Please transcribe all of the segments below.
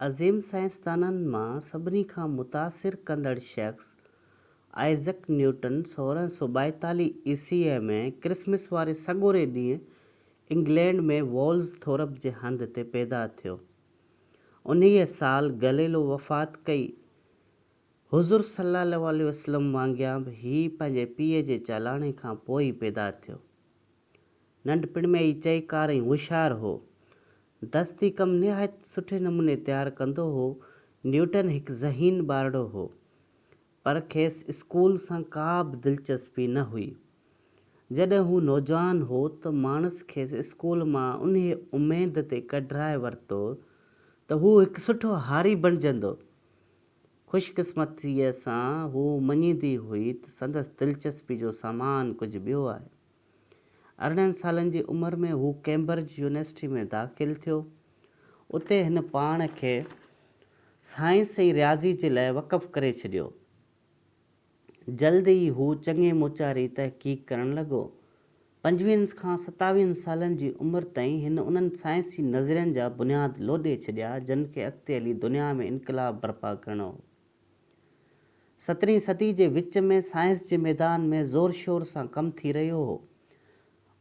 عظيم سائنسدانن مان سڀني کان متاثر ڪندڙ شخص آئزڪ نيوٽن سورهن سؤ ٻائيتاليهه عيسويء ۾ ڪرسمس واري سڳوري ڏينهن انگلينڊ ۾ وولز ٿورپ جي هنڌ تي پيدا ٿيو. انهيء سال گئليلو وفات ڪئي. حضور صلّي اللّٰه عليه وسلّم وانگيان به هي پنهنجي پيء جي چالاڻي کان پوء ئي پيدا ٿيو. ننڍپڻ ۾ ئي چئيڪار ۽ هوشيار هو. دستي ڪم نهايت سٺي نموني تيار ڪندو هو. نيوٽن هڪ ذهين ٻارڙو هو، پر کيس اسڪول سان ڪا به دلچسپي نه هئي. جڏهن هو نوجوان هو ته ماڻس کيس اسڪول مان انهيء اميد تي ڪڍرائي ورتو ته هو هڪ سٺو هاري بڻجندو. خوش قسمتيء سان هوء مڃيندي هئي ته سندس دلچسپي جو سامان ڪجهه ٻيو آهي. ارڙهن سالن جي عمر ۾ هو ڪيمبرج يونيورسٽيء ۾ داخل ٿيو. اتي هن پاڻ کي سائنس ۽ رياضيء جي لاء وقف ڪري ڇڏيو. جلد ئي هو چڱي موچاري تحقيق ڪرڻ لڳو. پنجويهن کان ستاويهن سالن جي عمر تائين هن انهن سائنسي نظرين جا بنياد لوڏي ڇڏيا جن کي اڳتي هلي دنيا ۾ انقلاب برپا ڪرڻو هو. سترهين صدي جي وچ ۾ سائنس جي ميدان ۾ زور شور سان ڪم ٿي رهيو هو.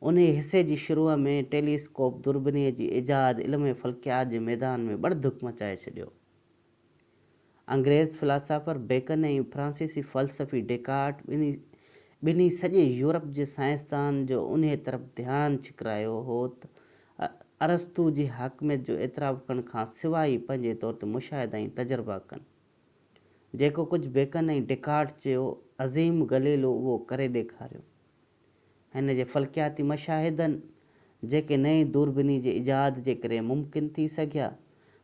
انهيء حصي جي شروع ۾ ٽيلي اسڪوپ دوربينيء جي ايجاد علم فلڪيات جي ميدان ۾ ٻڙڌڪ مچائي ڇڏيو. انگريز فلاسافر بيڪن ۽ فرانسيسي فلسفي ڊيڪارٽ ٻنهي سڄي يورپ جي سائنسدانن جو انهيء طرف ڌيان ڇڪرايو هو ته ارسطو جي حاڪميت جو اعتراف ڪرڻ کان سواء ئي پنهنجي طور تي مشاهدا ۽ تجربا ڪن. جيڪو ڪجهه بيڪن ۽ ڊيڪارٽ چيو، عظيم گليلو اهو ڪري ڏيکاريو. هن جي فلڪياتي مشاهدن، جيڪي نئين دوربيني جي ايجاد جي ڪري ممڪن ٿي سگهيا،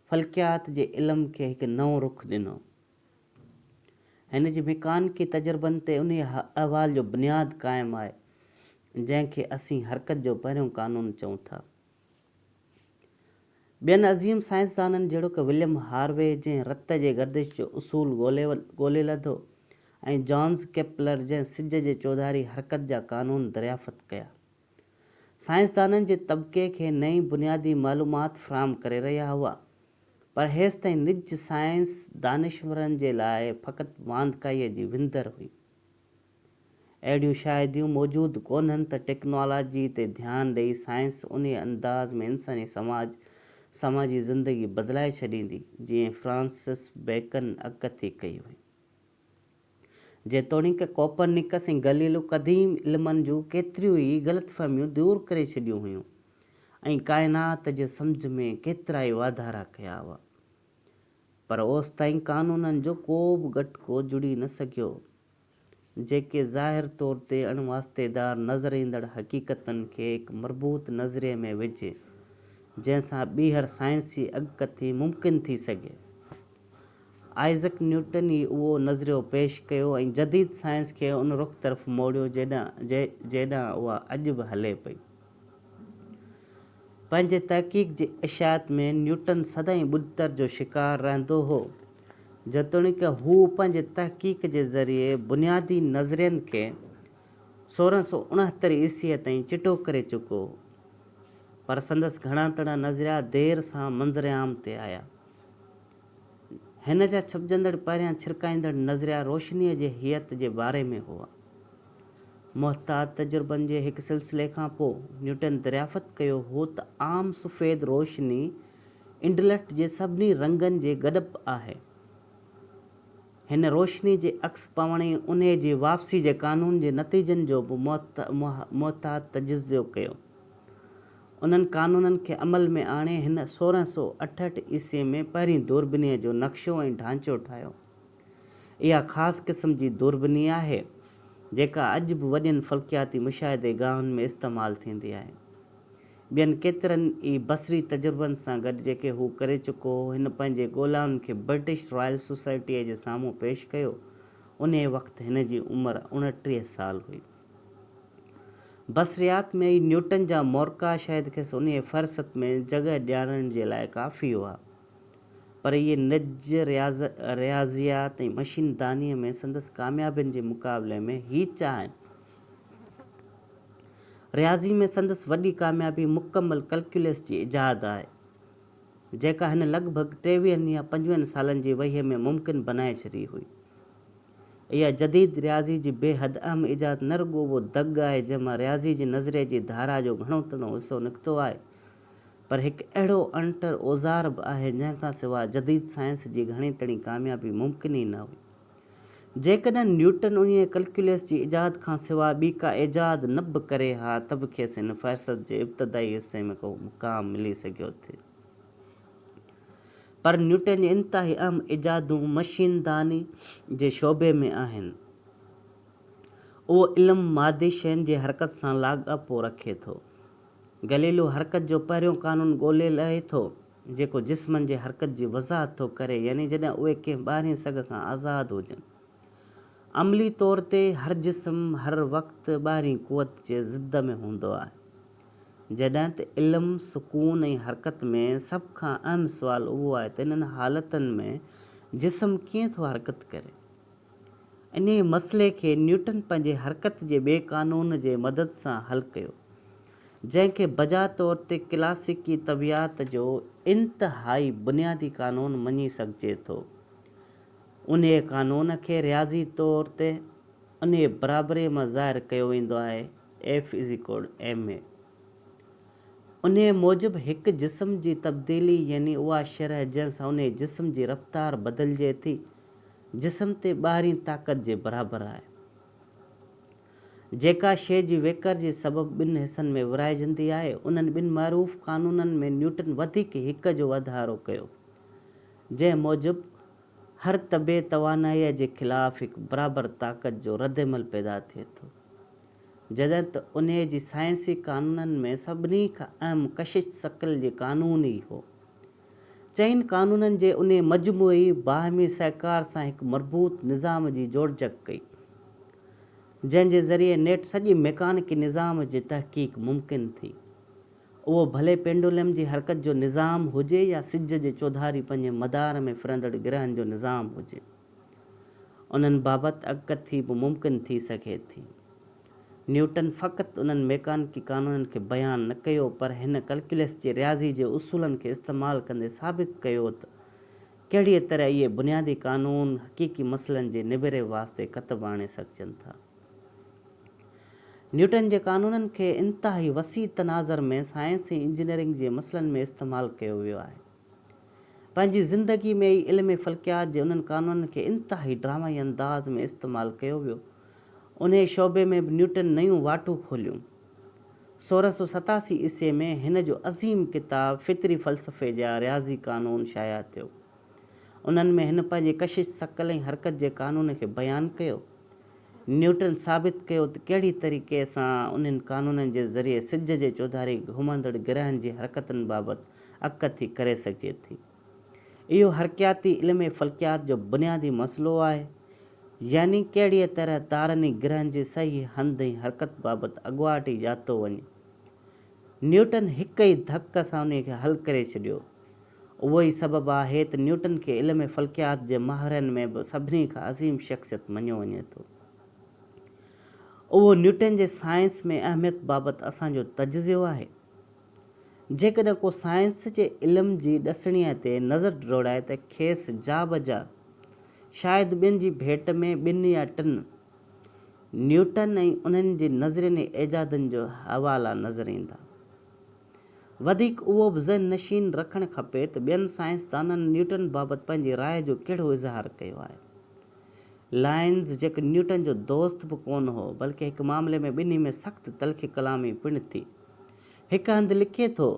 فلڪيات جي علم کي هڪ نئون رخ ڏنو. هن جي ميڪانڪي تجربن تي انهيء احوال جو بنياد قائم آهي، جنهن کي اسين حرڪت جو پهريون قانون چئون ٿا. ٻين عظيم سائنسدانن جهڙوڪ وليم هاروي جنهن رت جي گردش جو اصول ڳولي لڌو ۽ جانز ڪيپلر جنهن سج جي چوڌاري حرڪت جا قانون دريافت ڪيا سائنسدانن جي طبقي کي نئين بنيادي معلومات فراهم ڪري رهيا هئا پر هيستائين نج سائنس دانشورن جي لاء فقط واندڪائيء جي وندر هئي. اهڙيون شاهديون موجود ڪونهن ته ٽيڪنالاجي تي ڌيان ڏئي سائنس انهي انداز ۾ انساني سماج سماجي زندگي بدلائي ڇڏيندي جيئن فرانسس بيڪن اڳڪٿي ڪئي هئي. جيتوڻيڪ ڪوپرنيڪس ۽ گليلو قديم علمن جون ڪيتريون ئي غلط فهميون دور ڪري ڇڏيون هيون ۽ ڪائنات جي سمجهه ۾ ڪيترائي واڌارا ڪيا هئا پر اوستائين قانونن جو ڪو به ڳٽڪو جڙي نه سگهيو جيڪي ظاهر طور تي اڻ واسطي دار نظر ايندڙ حقيقتن کي هڪ مربوط نظرئي ۾ وجهي، جنهن سان ٻيهر سائنسي اڳڪٿي ممڪن ٿي سگهي. آئزڪ نيوٽن ئي اهو نظريو پيش ڪيو ۽ جديد سائنس کي ان رخ طرف موڙيو جنهن ڏانهن اها اڄ به هلي پئي. پنهنجي تحقيق جي اشاعت ۾ نيوٽن سدائين ٻڏتر جو شڪار رهندو هو. جيتوڻيڪ هو پنهنجي تحقيق جي ذريعي بنيادي نظرين کي سورهن سؤ اڻهتر عيسويء تائين چٽو ڪري چڪو هو، پر سندس گهڻا ڪڙا نظريا دير سان منظر عام تي آيا. هن جا ڇپجندڙ پهريان ڇرڪائيندڙ نظريا روشنيء جي هيئت جي باري ۾ هئا. محتاط تجربن جي هڪ سلسلي کان پوء نيوٽن دريافت ڪيو هو ته عام سفيد روشني انٽليڪٽ جي سڀني رنگن جي گڏپ آهي. هن روشني جي عڪس پوڻ ۽ انهيء جي واپسي جي قانون جي نتيجن جو به محتاط تجزيو ڪيو. انهن قانونن کي عمل ۾ آڻي هن سورهن سؤ اٺهٺ عيسوي ۾ پهرين دوربينيء جو نقشو ۽ ڍانچو ٺاهيو. اها خاص قسم جي دوربيني آهي. جيڪا اڄ به وڏين فلڪياتي مشاهدي گاهن ۾ استعمال ٿيندي آهي. ٻين ڪيترن ئي بصري تجربن سان گڏ جيڪي هو ڪري چڪو هو، هن پنهنجي ڳولائن کي برٽش رائل سوسائٽيء جي سامهون پيش ڪيو. انهيء وقت هن جي عمر اڻٽيهه سال هئي. بصريات ۾ ئي نيوٽن جا مورقا شايد کيس انهيء فهرست ۾ جڳهه ڏيارڻ جي لاء ڪافي هئا. پر اهي نج، رياضيات ۽ مشين دانيء ۾ سندس ڪاميابين جي مقابلي ۾ هيچ آهن. رياضي ۾ سندس وڏي ڪاميابي مڪمل ڪلڪيولس جي ايجاد آهي، جيڪا هن لڳ ڀڳ ٽيويهن يا پنجويهن سالن جي وهيء ۾ ممڪن بنائي ڇڏي هئي. اها جديد رياضي جي بي حد اهم ايجاد نه رڳو اهو دڳ آهي جنهن مان رياضي جي نظرئي جي ڌارا جو گهڻو تڻو حصو نڪتو آهي، پر هڪ اهڙو اڻٽر اوزار به آهي جنهن کان سواء جديد سائنس جي گهڻي تڻي ڪاميابي ممڪن ئي نه هئي. جيڪڏهن نيوٽن انهيء ڪلڪيولس جي ايجاد کان سواء ٻي ڪا ايجاد نه به ڪري ها ته به کيس هن فهرست جي ابتدائي حصي ۾ ڪو مقام ملي سگهيو ٿي. پر نيوٽن جي انتهائي اهم ايجادون مشين داني جي شعبي ۾ آهن. اهو علم مادي شين جي حرڪت سان لاڳاپو رکي ٿو. گليلو حرڪت جو پهريون قانون ڳولي لهي ٿو، جيڪو جسمن جي حرڪت جي وضاحت ٿو ڪري، يعني جڏهن اهي ڪنهن ٻاهرين سگهه کان آزاد هجن. عملي طور تي هر جسم هر وقت ٻاهرين قوت جي ضد ۾ هوندو آهي. جڏهن ته علم، سڪون ۽ حرڪت ۾ سڀ کان اهم سوال اهو آهي ته انهن حالتن ۾ جسم ڪيئن ٿو حرڪت ڪري؟ انهيء مسئلي کي نيوٽن پنهنجي حرڪت جي ٻئي قانون جي مدد سان حل ڪيو، جنهن کي بجا طور تي ڪلاسيڪي طبعيات جو انتهائي بنيادي قانون مڃي سگهجي ٿو. انهيء قانون کي رياضي طور تي انهيء برابريء مان ظاهر ڪيو ويندو آهي، F = ma. انهيء موجب هڪ جسم جي تبديلي يعني اها شرح جنهن سان انهيء جسم جي رفتار بدلجي ٿي، جسم تي ٻاهرين طاقت جي برابر آهي. جيڪا شيء جي ويڪر جي سبب ٻن حصن ۾ ورهائجندي آهي، انهن ٻن معروف قانونن ۾ نيوٽن وڌيڪ هڪ جو وڌارو ڪيو، جنهن موجب هر طبعي توانائيء جي خلاف هڪ برابر طاقت جو ردعمل پيدا ٿئي ٿو، جڏهن ته انهيء جي سائنسي قانونن ۾ سڀني کان اهم ڪشش ثقل جي قانون ئي هو، چئن قانونن جي انهي مجموعي باهمي سهڪار سان هڪ مربوط نظام جي جوڙجڪ ڪئي، جنهن جي ذريعي نيٽ سڄي ميڪانڪي نظام جي تحقيق ممڪن ٿي. اهو ڀلي پينڊولم جي حرڪت جو نظام هجي يا سج جي چوڌاري پنهنجي مدار ۾ ڦرندڙ گرهن جو نظام هجي، انهن بابت اڳڪٿي به ممڪن ٿي سگهي ٿي. نيوٽن فقط انهن ميڪانڪي قانونن کي بيان نه ڪيو پر هن ڪلڪيولس جي رياضي جي اصولن کي استعمال ڪندي ثابت ڪيو ته ڪهڙيء طرح اهي بنيادي قانون حقيقي مسئلن جي نبيري واسطي ڪتب آڻي سگهجن ٿا. نيوٽن جي قانونن کي انتهائي وسيع تناظر ۾ سائنس ۽ انجنيئرنگ جي مسئلن ۾ استعمال ڪيو ويو آهي. پنهنجي زندگي ۾ ئي علم فلڪيات جي انهن قانونن کي انتهائي ڊرامائي انداز ۾ استعمال ڪيو ويو. انهيء شعبي ۾ به نيوٽن نيون واٽون کوليون. سورهن سؤ ستاسي عيسوي ۾ هن جو عظيم ڪتاب فطري فلسفي جا رياضي قانون شايع ٿيو. انهن ۾ هن پنهنجي ڪشش، ثقل ۽ حرڪت جي قانون کي بيان ڪيو. نيوٽن ثابت ڪيو ته ڪهڙي طريقي سان انهن قانونن جي ذريعي سج جي چوڌاري گهمندڙ گرهن جي حرڪتن بابت اڪٿي ڪري سگهجي ٿي. اهو حرڪياتي علم فلڪيات جو بنيادي مسئلو آهي، يعني ڪهڙيء طرح تارن ۽ گرهن جي صحيح هنڌ ۽ حرڪت بابت اڳواٽ ئي ڄاتو وڃي. نيوٽن هڪ ئي ڌڪ سان انهيء کي حل ڪري ڇڏيو. اهو ئي سبب آهي ته نيوٽن کي علم فلڪيات جي ماهرن ۾ به سڀني کان عظيم شخصيت مڃيو وڃي ٿو. اهو نيوٽن جي سائنس ۾ اهميت بابت اسان جو تجزيو آهي. جيڪڏهن ڪو سائنس جي علم جي ڏسڻيء تي نظر ڊوڙائي ته کيس جا بجا شايد ٻين جي ڀيٽ ۾ ٻن يا ٽن نيوٽن ۽ انهن جي نظرين ۽ ايجادن جا حوالا نظر ايندا. وڌيڪ اهو به ذهن نشين رکڻ کپي ته ٻين سائنسدانن نيوٽن بابت پنهنجي راء جو ڪهڙو اظهار ڪيو آهي. لائنز جيڪو نيوٽن جو دوست به ڪونه هو، بلڪه هڪ معاملي ۾ ٻنهي ۾ سخت تلخي ڪلامي پڻ ٿي. هڪ هنڌ لکي ٿو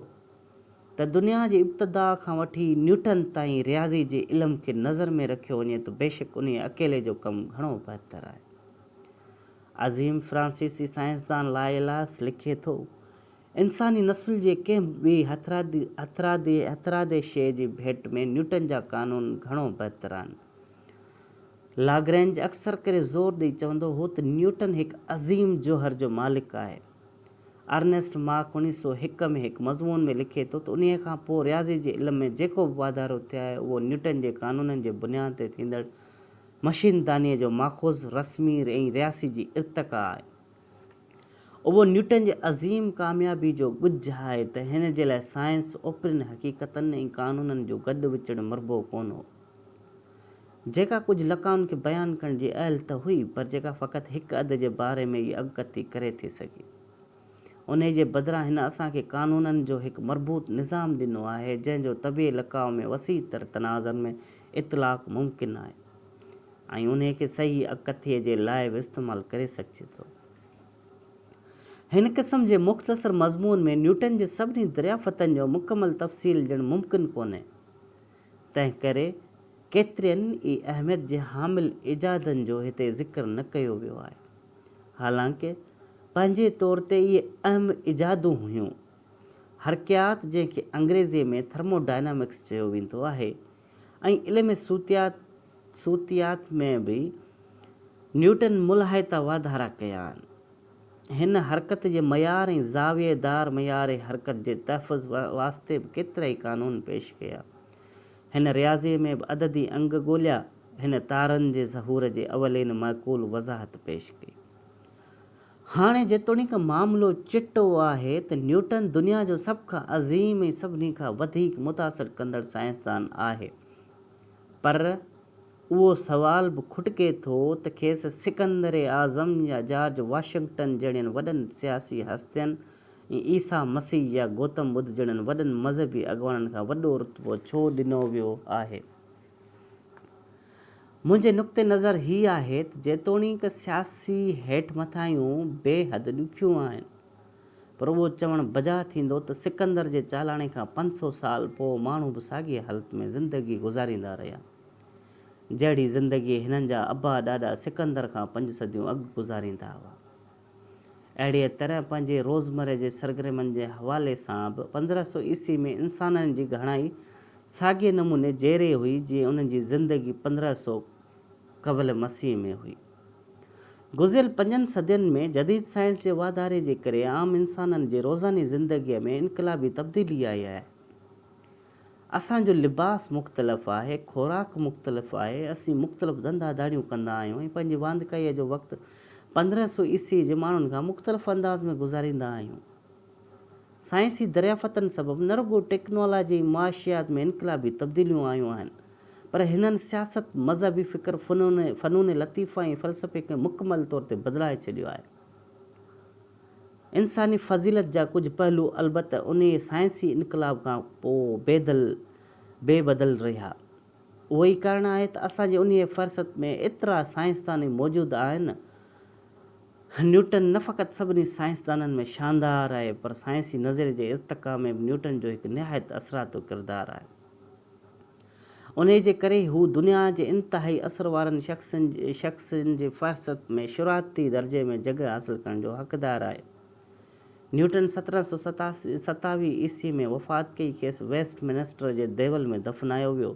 ته دنيا جي ابتدا کان وٺي نيوٽن تائين رياضي جي علم کي نظر ۾ رکيو وڃي ته بيشڪ انهيء اڪيلي جو ڪم گهڻو بهتر آهي. عظيم فرانسيسي سائنسدان لائيلاس لکي ٿو، انساني نسل جي ڪنهن ٻي هٿرادي شيء جي ڀيٽ ۾ نيوٽن جا قانون گهڻو بهتر آهن. لاگرينج اڪثر ڪري زور ڏئي چوندو هو ته نيوٽن هڪ عظيم جوهر جو مالڪ آهي. ارنيسٽ ماڪ اڻويهه سؤ هڪ ۾ هڪ مضمون ۾ لکي ٿو ته انهيء کان پوء رياضي جي علم ۾ جيڪو به واڌارو ٿيو آهي اهو نيوٽن جي قانونن جي بنياد تي ٿيندڙ مشين دانيء جو ماخذ رسمي ۽ رياسي جي ارتقا آهي. اهو نيوٽن جي عظيم ڪاميابي جو ڳجهه آهي ته هن جي لاء سائنس اوپرين حقيقتن ۽ قانونن جو گڏ وچڙ مربو ڪونه هو، جيڪا ڪجهه لقائن کي بيان ڪرڻ جي اهل ته هئي، پر جيڪا فقط هڪ اڌ جي باري ۾ ئي اڳڪٿي ڪري ٿي سگهي. انهيء جي بدران هن اسان کي قانونن جو هڪ مربوط نظام ڏنو آهي، جنهن جو طبيعي لقاء ۾ وسيع تر تنازعن ۾ اطلاق ممڪن آهي ۽ انهيء کي صحيح اڳڪٿيء جي لاء به استعمال ڪري سگهجي ٿو. هن قسم جي مختصر مضمون ۾ نيوٽن جي سڀني دريافتن جو مڪمل تفصيل ڏيڻ ممڪن ڪونهي، تنهنڪري ڪيترين ئي اهميت جي حامل ايجادن جو هتي ذڪر نه ڪيو ويو آهي. حالانڪ پنهنجي طور تي اهي اهم ايجادون هيون. حرڪيات جنهن کي انگريزيء ۾ ٿرمو ڊائنامڪس چيو ويندو آهي ۽ علم صوتيات صوتيات ۾ به نيوٽن ملهائتا واڌارا ڪيا آهن. هن حرڪت جي معيار ۽ زاويي دار معيار حرڪت جي تحفظ واسطي به ڪيترائي قانون پيش ڪيا. هن رياضيء ۾ به عددي انگ ڳوليا. هن تارن جي ظهور جي اولين معقول وضاحت پيش ڪئي. هاڻي جيتوڻيڪ معاملو چٽو آهي ته نيوٽن دنيا جو سڀ کان عظيم ۽ سڀني کان وڌيڪ متاثر ڪندڙ سائنسدان آهي، پر اهو سوال به کٽڪي ٿو ته کيس سڪندر اعظم يا جارج واشنگٽن جهڙين وڏن سياسي هستين ۽ عيسيٰ مسيح يا گوتم ٻڌ جهڙن وڏن مذهبي اڳواڻن کان وڏو رتبو ڇو ڏنو ويو آهي؟ منهنجي نقطه نظر هي آهي ته جيتوڻيڪ سياسي هيٺ مٿاهيون بي حد ڏکيون آهن، پر اهو چوڻ بجا ٿيندو ته سڪندر جي چالاڻي کان پنج سؤ سال پوء ماڻهو به ساڳيء حالت ۾ زندگي گذاريندا رهيا، جهڙي زندگي هنن جا ابا ڏاڏا سڪندر کان پنج صديون اڳ گذاريندا هئا. اهڙيء طرح پنهنجي روزمره جي سرگرمين جي حوالي سان به پندرهن سؤ عيسوي ۾ انسانن جي گهڻائي ساڳئي نموني جهڙي هئي جيئن انهن جي زندگي پندرهن سؤ قبل مسيح ۾ هئي. گذريل پنجن صدين ۾ جديد سائنس جي واڌاري جي ڪري عام انسانن جي روزاني زندگيء ۾ انقلابي تبديلي آئي آهي. اسان جو لباس مختلف آهي، خوراڪ مختلف آهي، اسين مختلف ڌنڌا ڌاڙيون ڪندا آهيون ۽ پنهنجي واندڪائيء جو وقت پندرهن سو عيسوي جي ماڻهن کان مختلف انداز ۾ گذاريندا آهيون. سائنسي دريافتن سبب نه رڳو ٽيڪنالاجي ۽ معاشيات ۾ انقلابي تبديليون آيون آهن، پر هنن سياست، مذهبي فڪر، فنون لطيفه ۽ فلسفي کي مڪمل طور تي بدلائي ڇڏيو آهي. انساني فضيلت جا ڪجهه پهلو البته انهيء سائنسي انقلاب کان پوء بي بدل رهيا. اهو ئي ڪارڻ آهي ته اسان جي انهيء فرست ۾ ايترا سائنسدان موجود آهن. نيوٽن نه فقط سڀني سائنسدانن ۾ شاندار آهي، پر سائنسي نظريي جي ارتقا ۾ به نيوٽن جو هڪ نهايت اثراتو ڪردار آهي. انهيء جي ڪري ئي هو دنيا جي انتهائي اثر وارن شخصن جي فهرست ۾ شروعاتي درجي ۾ جڳهه حاصل ڪرڻ جو حقدار آهي. نيوٽن سترهن سؤ ستاويهه عيسوي ۾ وفات ڪئي، کيس ويسٽ منسٽر جي ديول ۾ دفنايو ويو.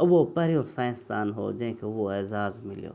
اهو پهريون سائنسدان هو، جنهن کي اهو اعزاز مليو.